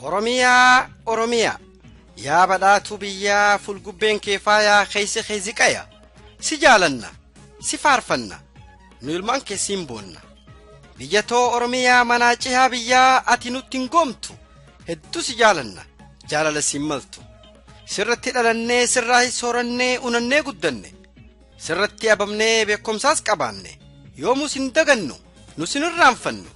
Oromiyaa Oromiyaa yaa badhaatuu biyyaa fulgubbeen kee faayaa keeysi kee ziqaya si jaalanna si faarfanna nu ilmaan kee siin boonna biyya too Oromiyaa manaa cihaa biyyaa ati nutti hin goomtu hedduu si jaalanna jaalala siin maltu sirratti dhalannee sirraa soorannee unannee guddanne Sirratti ababnee beekumsaas qabaanne yoomuu sin dagannu nu sin irraanfannu.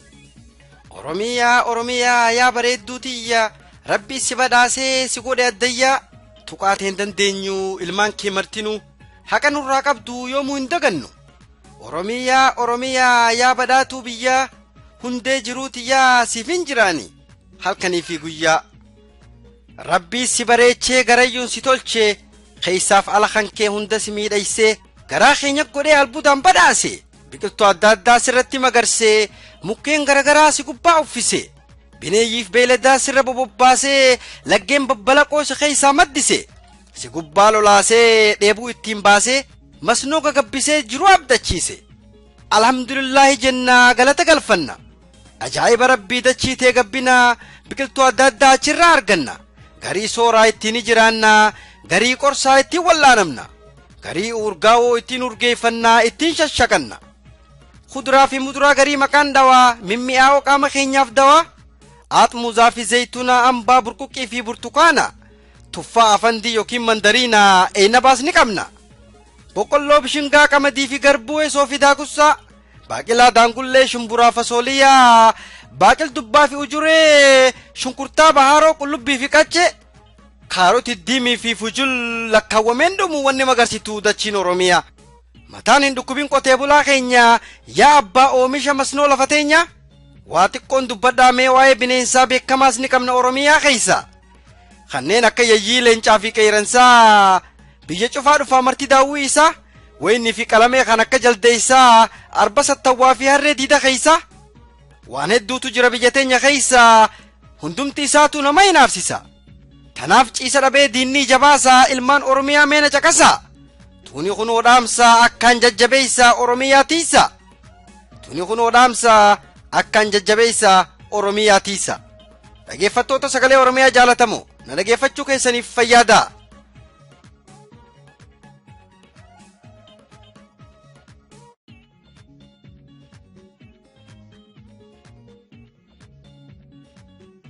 Oromiyaa Oromiyaa yaa bareedduu tiyya rabbi si badhaasee si godhe addayyaa tuqaatee hin dandeenyu ilmaan kee martinuu haqa nurraa qabdu yoomuu hin dagannu. Oromiyaa Oromiyaa yaa badhaatuu biyyaa hundee jiruu tiyyaa siif hin jiraani halkanii fi guyyaa. Rabbii si bareechee garayyuun si tolchee keessaaf ala kan kee hunda si miidhaysee garaa keenya godhee albuudaan badhaase biqiltuu adda addaa sirratti magarsee mukkeen garagaraa si gubbaa uffise bineeyyiif beeyladaa sirra bobobbaasee laggeen babbalaqoo si keessaa maddise si gubbaa lolaasee dheebuu ittiin baasee masnoo gagabbisee jiruu abdachiise alhamdulillaahi jennaa galata galfanna Ajaa'iba rabbii dachii tee gabbina biqiltuu adda addaa achirraa arganna. Garii sooraa ittiin ni jiraanna, garii qorsaa ittiin wal'aanamna, garii uurgaawoo ittiin urgeeffannaa ittiin shashaqanna. Kuduraa fi muduraa garii maqaan dhawaa mimmi'aawoo qaama keenyaaf dawaa aaxmuuzaa fi zeeytunaa ambaa burquqqii fi burtukaana tuffaa afandii yookiin mandariinaa eeynabaas ni qabna. Boqqolloo bishingaa qamadii fi garbuu esoo fi daakussaa baaqilaa daangullee shumburaa fasooliyaa baaqil dubbaa fi ujuree shunkurtaa bahaaroo qullubbii fi qaccee kaaroti diimii fi fujul lakkaawwameen dhumu wanni magarsitu dachiin oromiyaa mataan hin dhukkubin qotee bulaa keenya yaa abbaa oomisha masnoo lafa teenya waa xiqqoon dubbadhaa mee waa'ee bineensaa beekamaas ni qabna oromiyaa keessa kanneen akka yayyii leencaa fi qeeransaa biyya cufaa dhufaa marti daawwii isaa wayinii fi qalamee kan akka jaldeessaa arba sattawwaa fi harree diida keeysaa waan hedduutu jira biyya teenya keeysaa hundumti isaatu nama hinaafsisa tanaaf ciisa dhabee diinnii jabaasaa ilmaan oromiyaa meena caqasaa tuni kun odhaamsaa akkaan jajjabeeysaa oromiyaa tiisa tuni kun odhaamsaa akkaan jajjabeeysaa oromiyaa tiisa Dhageeffattoota sagalee Oromiyaa jaalatamoo na dhageeffachuu keessaniif fayyaadaa.